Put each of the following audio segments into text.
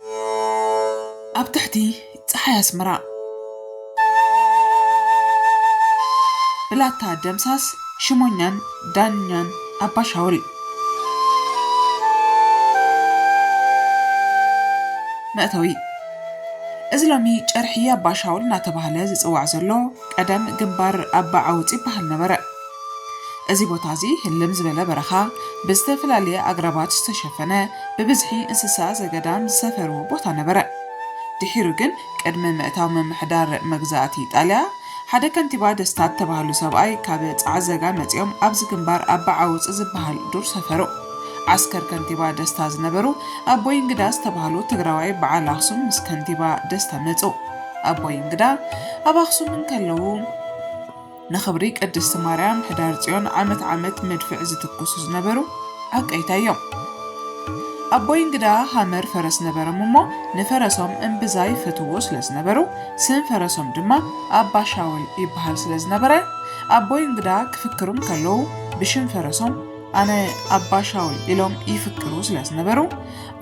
ኣብ ትሕቲ ጸሓይ ኣስመራ። ብላታ ደምሳስ ሽሞኛን ዳኛን ኣባ ሻውል። መእተዊ እዚ ሎሚ ጨርሒ ኣባ ሻውል እናተባህለ ዝጽዋዕ ዘሎ፣ ቀደም ግንባር ኣባ ዓውፅ ይበሃል ነበረ። እዚ ቦታ እዚ ህልም ዝበለ በረኻ፣ ብዝተፈላለየ ኣግራባት ዝተሸፈነ፣ ብብዝሒ እንስሳ ዘገዳም ዝሰፈርዎ ቦታ ነበረ። ድሒሩ ግን ቅድሚ ምእታው ምምሕዳር መግዛእቲ ኢጣልያ፣ ሓደ ከንቲባ ደስታ እተባህሉ ሰብኣይ ካብ ፃዕዘጋ መፂኦም ኣብዚ ግንባር ኣባ ዓውፅ ዝበሃል ዱር ሰፈሩ። ዓስከር ከንቲባ ደስታ ዝነበሩ ኣቦይ እንግዳ ዝተባህሉ ትግራዋይ በዓል ኣኽሱም ምስ ከንቲባ ደስታ መፁ። ኣቦይ እንግዳ ኣብ ኣኽሱም እንከለዉ ንኽብሪ ቅድስቲ ማርያም ሕዳር ፅዮን ዓመት ዓመት መድፍዕ ዝትኩሱ ዝነበሩ ዓቀይታይ እዮም። ኣቦይ እንግዳ ሃመር ፈረስ ነበሮም እሞ ንፈረሶም እምብዛ ይፈትውዎ ስለ ዝነበሩ ስም ፈረሶም ድማ ኣባ ሻውል ይበሃል ስለ ዝነበረ ኣቦይ እንግዳ ክፍክሩ እንከለዉ ብሽም ፈረሶም ኣነ ኣባ ሻውል ኢሎም ይፍክሩ ስለ ዝነበሩ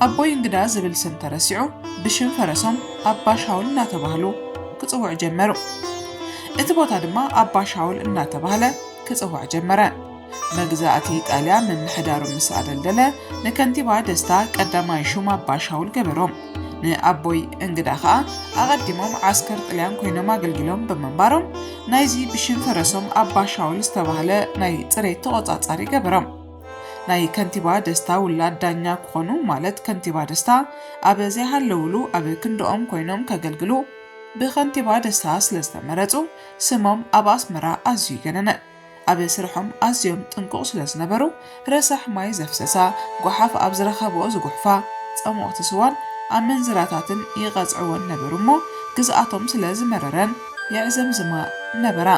ኣቦይ እንግዳ ዝብል ስም ተረሲዑ ብሽም ፈረሶም ኣባ ሻውል እናተባህሉ ክፅውዑ ጀመሩ። እቲ ቦታ ድማ ኣባ ሻውል እናተባህለ ክፅዋዕ ጀመረ። መግዛእቲ ጣልያን ምምሕዳሩ ምስ ኣደልደለ ንከንቲባ ደስታ ቀዳማይ ሹም ኣባ ሻውል ገበሮም። ንኣቦይ እንግዳ ከዓ ኣቐዲሞም ዓስከር ጥልያን ኮይኖም ኣገልጊሎም ብምንባሮም ናይዚ ብሽም ፈረሶም ኣባ ሻውል ዝተባህለ ናይ ፅሬት ተቖፃፃሪ ገበሮም። ናይ ከንቲባ ደስታ ውላድ ዳኛ ክኾኑ ማለት ከንቲባ ደስታ ኣብ ዘይሃለውሉ ኣብ ክንድኦም ኮይኖም ከገልግሉ ብከንቲባ ደስታ ስለዝተመረፁ ስሞም ኣብ ኣስመራ ኣዝዩ ገነነ። ኣብ ስርሖም ኣዝዮም ጥንቁቕ ስለዝነበሩ ረሳሕ ማይ ዘፍሰሳ፣ ጓሓፍ ኣብ ዝረኸብኦ ዝጉሕፋ፣ ጸሞቕቲ ስዋን ኣመንዝራታትን ይቐጽዕወን ነበሩ እሞ ግዝኣቶም ስለዝመረረን፣ የዕዘምዝማ ነበራ።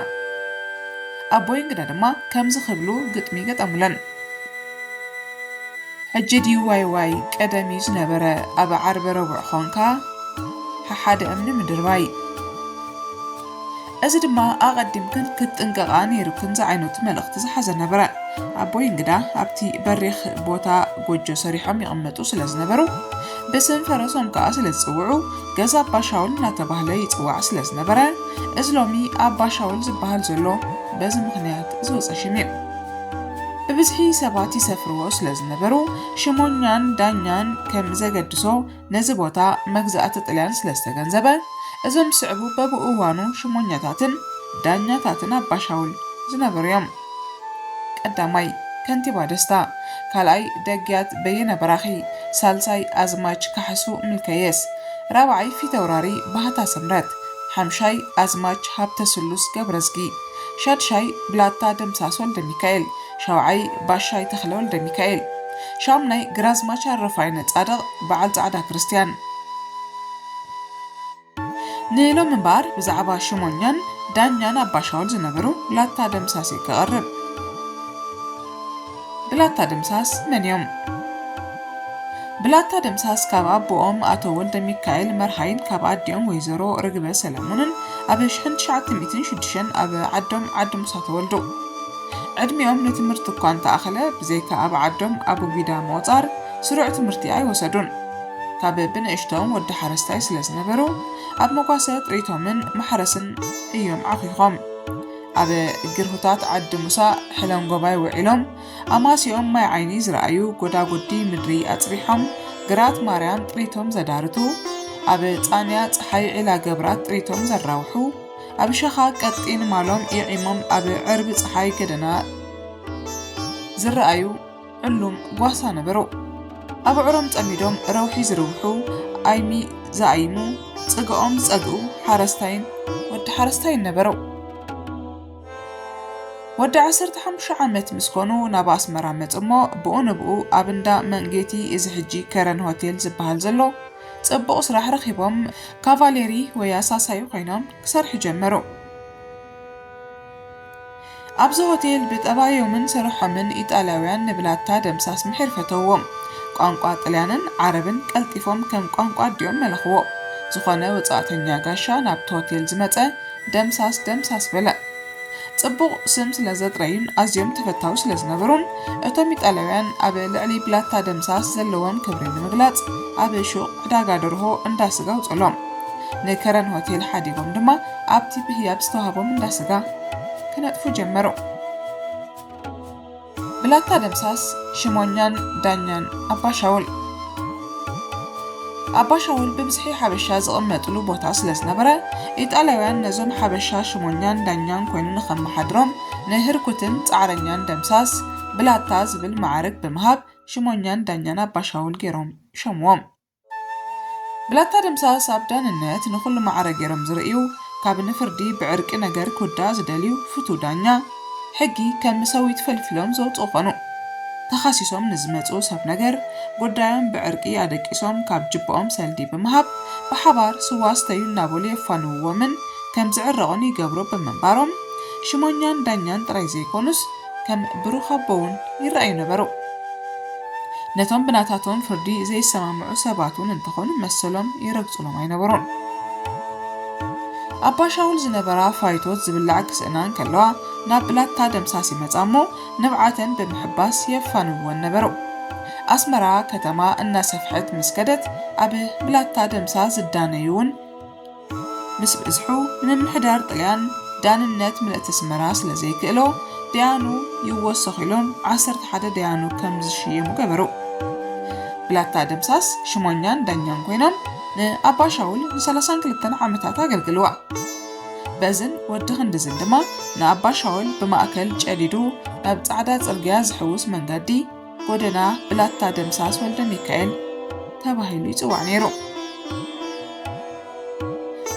ኣቦይ እንግዳ ድማ ከምዚ ክብሉ ግጥሚ ገጠሙለን። ሕጂ ድዩ ዋይዋይ ቀደም እዩ ዝነበረ ኣብ ዓርቢ ረቡዕ ኾንካ ሓሓደ እምኒ ምድርባይ። እዚ ድማ ኣቐዲምክን ክትጥንቀቓ ነይሩክን ዝዓይነቱ መልእኽቲ ዝሓዘ ነበረ። ኣቦይ እንግዳ ኣብቲ በሪኽ ቦታ ጎጆ ሰሪሖም ይቕመጡ ስለ ዝነበሩ ብስም ፈረሶም ከኣ ስለ ዝጽውዑ ገዛ ኣባ ሻውል እናተባህለ ይጽዋዕ ስለ ዝነበረ እዚ ሎሚ ኣባ ሻውል ዝበሃል ዘሎ በዚ ምኽንያት ዝወጸ ሽም እዩ። ብብዝሒ ሰባት ይሰፍርዎ ስለ ዝነበሩ ሽሞኛን ዳኛን ከም ዘገድሶ ነዚ ቦታ መግዛእቲ ጥልያን ስለ ዝተገንዘበ እዞም ዝስዕቡ በብእዋኑ ሽሞኛታትን ዳኛታትን ኣባ ሻውል ዝነበሩ እዮም። ቀዳማይ፣ ከንቲባ ደስታ፣ ካልኣይ፣ ደግያት በየነ በራኺ፣ ሳልሳይ፣ ኣዝማች ካሕሱ ምልከየስ፣ ራብዓይ፣ ፊተውራሪ ባህታ ስምረት፣ ሓምሻይ፣ ኣዝማች ሃብተስሉስ ገብረዝጊ፣ ሻድሻይ፣ ብላታ ደምሳስ ወልደሚካኤል፣ ሻውዓይ፣ ባሻይ ተኽለ ወልደሚካኤል፣ ሻምናይ፣ ግራዝማች ኣረፋይነ ጻድቕ፣ በዓል ጻዕዳ ክርስትያን። ንሎሚ እምበኣር ብዛዕባ ሹመኛን ዳኛን ኣባሻውል ዝነበሩ ላታ ደምሳሴ ከቕርብ። ብላታ ደምሳስ መን እዮም? ብላታ ደምሳስ ካብ ኣቦኦም ኣቶ ወልደሚካኤል መርሃይን ካብ ኣዲኦም ወይዘሮ ርግበ ሰለሙንን ኣብ ሽሕን ትሽዓተ ሚእትን ሽዱሽተን ኣብ ዓዶም ዓዲ ሙሳ ተወልዱ። ዕድሚኦም ንትምህርቲ እኳ እንተኣኸለ ብዘይካ ኣብ ዓዶም ኣቡጊዳ ምቑጻር ስሩዕ ትምህርቲ ኣይወሰዱን። ካብ ብንእሽቶም ወዲ ሓረስታይ ስለ ዝነበሩ ኣብ መጓሰ ጥሪቶምን ማሕረስን እዮም ዓኺኾም። ኣብ ግርሁታት ዓዲ ሙሳ ሕለንጎባይ ውዒሎም ኣማስይኦም ማይ ዓይኒ ዝረኣዩ ጎዳጉዲ ምድሪ ኣጽቢሖም ግራት ማርያም ጥሪቶም ዘዳርቱ ኣብ ጻንያ ጸሓይ ዒላ ገብራት ጥሪቶም ዘራውሑ ኣብ ሸኻ ቀጢን ማሎም የዒሞም ኣብ ዕርቢ ጸሓይ ገደና ዝረኣዩ ዕሉም ጓሳ ነበሩ። ኣብ ኣዕሮም ጸሚዶም ረውሒ ዝርውሑ፣ ኣይሚ ዝኣይሙ፣ ጽግኦም ዝጸግኡ ሓረስታይን ወዲ ሓረስታይን ነበሩ። ወዲ ዓሰርተ ሓሙሽተ ዓመት ምስ ኮኑ ናብ ኣስመራ መጹ እሞ ብኡ ንብኡ ኣብ እንዳ መንጌቲ እዚ ሕጂ ከረን ሆቴል ዝበሃል ዘሎ ጽቡቕ ስራሕ ረኺቦም ካቫሌሪ ወይ ኣሳሳዩ ኮይኖም ክሰርሑ ጀመሩ። ኣብዚ ሆቴል ብጠባዮምን ስርሖምን ኢጣልያውያን ንብላታ ደምሳስ ምሒር ፈተውዎም። ቋንቋ ጥልያንን ዓረብን ቀልጢፎም ከም ቋንቋ ኣዲኦም መለኽዎ። ዝኾነ ወጻእተኛ ጋሻ ናብቲ ሆቴል ዝመጸ ደምሳስ ደምሳስ በለ። ጽቡቕ ስም ስለ ዘጥረዩን ኣዝዮም ተፈታዊ ስለ ዝነበሩን እቶም ኢጣልያውያን ኣብ ልዕሊ ብላታ ደምሳስ ዘለዎም ክብሪ ንምግላጽ ኣብ ሹቕ ዕዳጋ ደርሆ እንዳ ስጋ ኣውጽእሎም ንከረን ሆቴል ሓዲጎም ድማ ኣብቲ ብህያብ ዝተዋህቦም እንዳ ስጋ ክነጥፉ ጀመሩ። ብላታ ደምሳስ፣ ሽሞኛን ዳኛን ኣባ ሻውል። ኣባ ሻውል ብብዝሒ ሓበሻ ዝቕመጥሉ ቦታ ስለ ዝነበረ፣ ኢጣልያውያን ነዞም ሓበሻ ሽሞኛን ዳኛን ኮይኑ ንኸመሓድሮም ንህርኩትን ጻዕረኛን ደምሳስ፣ ብላታ፣ ዝብል መዓርግ ብምሃብ ሽሞኛን ዳኛን ኣባ ሻውል ገይሮም ሾምዎም። ብላታ ደምሳስ ኣብ ዳንነት ንኹሉ ማዕረ ገይሮም ዝርእዩ ካብ ንፍርዲ ብዕርቂ ነገር ክውዳእ ዝደልዩ ፍቱው ዳኛ ሕጊ ከም ምሰዊት ፈልፊሎም ዘውጽኡ ኮኑ። ተኻሲሶም ንዝመጽኡ ሰብ ነገር ጉዳዮም ብዕርቂ ኣደቂሶም ካብ ጅባኦም ሰልዲ ብምሃብ ብሓባር ስዋ ስተዩ እናበሉ የፋንውዎምን ከም ዝዕረቑን ይገብሩ ብምንባሮም ሽሞኛን ዳኛን ጥራይ ዘይኮኑስ ከም ብሩኽ ኣቦ ውን ይረኣዩ ነበሩ። ነቶም ብናታቶም ፍርዲ ዘይሰማምዑ ሰባት ውን እንተኾኑ መሰሎም ይረግጹሎም ኣይነበሩን። ኣባ ሻውል ዝነበራ ፋይቶት ዝብላዕ ክስእና እንከለዋ ናብ ብላታ ደምሳስ ይመጻ እሞ ንብዓተን ብምሕባስ የፋንውወን ነበሩ። ኣስመራ ከተማ እናሰፍሐት ምስ ከደት ኣብ ብላታ ደምሳስ ዝዳነዩ ውን ምስ በዝሑ ንምምሕዳር ጥልያን ዳንነት ምልእቲ ኣስመራ ስለ ዘይክእሎ ደያኑ ይወሰኹ ኢሎም ዓሰርተ ሓደ ደያኑ ከም ዝሽየሙ ገበሩ። ብላታ ደምሳስ ሽሞኛን ዳኛን ኮይኖም ንኣባ ሻውል ንሰላሳን ክልተን ዓመታት ኣገልግልዋ። በዝን ወዲ ክንድዝን ድማ ንኣባ ሻውል ብማእከል ጨዲዱ ናብ ጻዕዳ ጽርግያ ዝሕውስ መንገዲ ጎደና ብላታ ደምሳስ ወልደሚካኤል ተባሂሉ ይጽዋዕ ነይሩ።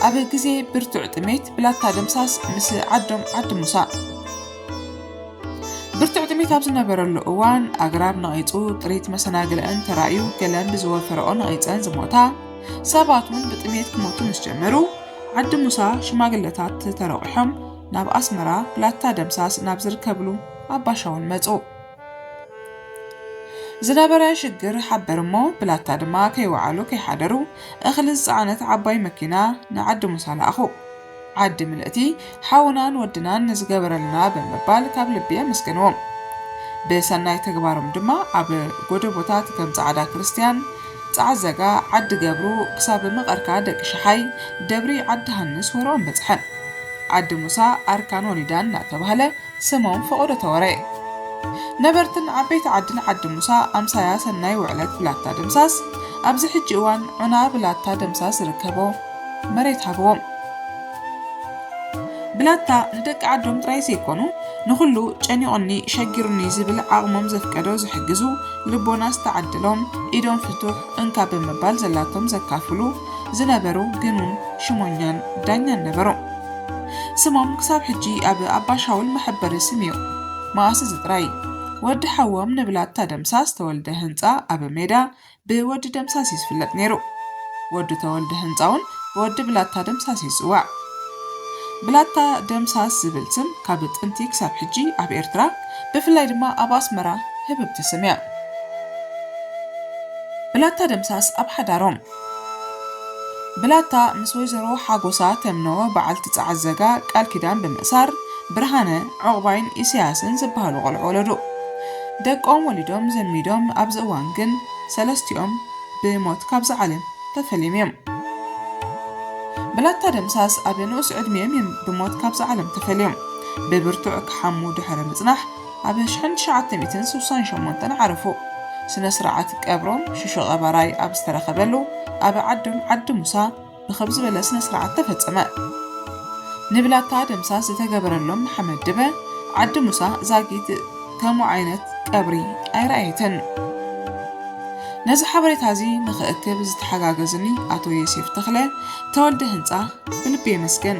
ኣብ ግዜ ብርቱዕ ጥሜት ብላታ ደምሳስ ምስ ዓዶም ዓዲ ሙሳ ብርቱዕ ጥሜት ኣብ ዝነበረሉ እዋን ኣግራብ ነቒፁ ጥሪት መሰናግለን ተራእዩ ገለን ብዝወፈረኦ ነቒፀን ዝሞታ ሰባት እውን ብጥሜት ክሞቱ ምስ ጀመሩ ዓዲ ሙሳ ሽማግለታት ተረቑሖም ናብ ኣስመራ ብላታ ደምሳስ ናብ ዝርከብሉ ኣባሻውን መፁ። ዝነበረ ሽግር ሓበር እሞ ብላታ ድማ ከይወዓሉ ከይሓደሩ እኽሊ ዝፀዓነት ዓባይ መኪና ንዓዲ ሙሳ ለኣኹ። ዓዲ ምልእቲ ሓውናን ወድናን ንዝገበረልና ብምባል ካብ ልቢ የመስገንዎም። ብሰናይ ተግባሮም ድማ ኣብ ጎደቦታት ከም ፃዕዳ ክርስትያን፣ ፃዕዘጋ፣ ዓዲ ገብሩ ክሳብ መቐርካ ደቂ ሸሓይ፣ ደብሪ ዓዲ ሃንስ ወረኦም በፅሐን። ዓዲ ሙሳ ኣርካን ወሊዳን እናተባህለ ስሞም ፈቐዶ ተወሬ ነበርትን ዓበይቲ ዓድን ዓዲ ሙሳ ኣምሳያ ሰናይ ውዕለት ብላታ ደምሳስ ኣብዚ ሕጂ እዋን ዑና ብላታ ደምሳስ ዝርከቦ መሬት ሃብዎም። ብላታ ንደቂ ዓዶም ጥራይ ዘይኮኑ ንኹሉ ጨኒቑኒ ሸጊሩኒ ዝብል ዓቕሞም ዘፍቀዶ ዝሕግዙ ልቦና ዝተዓደሎም ኢዶም ፍቱሕ እንካ ብምባል ዘላቶም ዘካፍሉ ዝነበሩ ግኑን ሽሞኛን ዳኛን ነበሩ። ስሞም ክሳብ ሕጂ ኣብ ኣባሻውል መሐበሪ ስም እዩ። መኣስ እዚ ጥራይ፣ ወዲ ሓዎም ንብላታ ደምሳስ ተወልደ ህንጻ ኣብ ሜዳ ብወዲ ደምሳስ እዩ ዝፍለጥ ነይሩ። ወዱ ተወልደ ህንጻውን ብወዲ ብላታ ደምሳስ እዩ ዝጽዋዕ። ብላታ ደምሳስ ዝብል ስም ካብ ጥንቲ ክሳብ ሕጂ ኣብ ኤርትራ ብፍላይ ድማ ኣብ ኣስመራ ህብብቲ ስም እያ። ብላታ ደምሳስ ኣብ ሓዳሮም ብላታ ምስ ወይዘሮ ሓጎሳ ተምኖ በዓልቲ ጸዓዘጋ ቃል ኪዳን ብምእሳር፣ ብርሃነ፣ ዑቕባይን ኢሳያስን ዝበሃሉ ቆልዑ ወለዱ። ደቆም ወሊዶም ዘሚዶም ኣብዚ እዋን ግን ሰለስቲኦም ብሞት ካብዛ ዓለም ተፈልዮም እዮም። ብላታ ደምሳስ ኣብ ንኡስ ዕድሚኦም እዮም ብሞት ካብዛ ዓለም ተፈልዮም። ብብርቱዕ ክሓሙ ድሕሪ ምጽናሕ፣ ኣብ ኣሽሕን ትሽዓተ ሚእትን ስሳን ሸሞንተን ዓረፉ። ስነ ስርዓት ቀብሮም ሽሾ ቀባራይ ኣብ ዝተረኸበሉ ኣብ ዓዶም ዓዲ ሙሳ ብኽብ ዝበለ ስነ ስርዓት ተፈፀመ። ንብላታ ደምሳስ ዝተገበረሎም ንሓመድ ድበ ዓዲ ሙሳ ዛጊት ከምኡ ዓይነት ቀብሪ ኣይረኣየትን። ነዚ ሓበሬታ እዚ ንኽእክብ ዝተሓጋገዙኒ ኣቶ ዮሴፍ ተኽለ፣ ተወልደ ህንፃ ብልቢ የመስግን።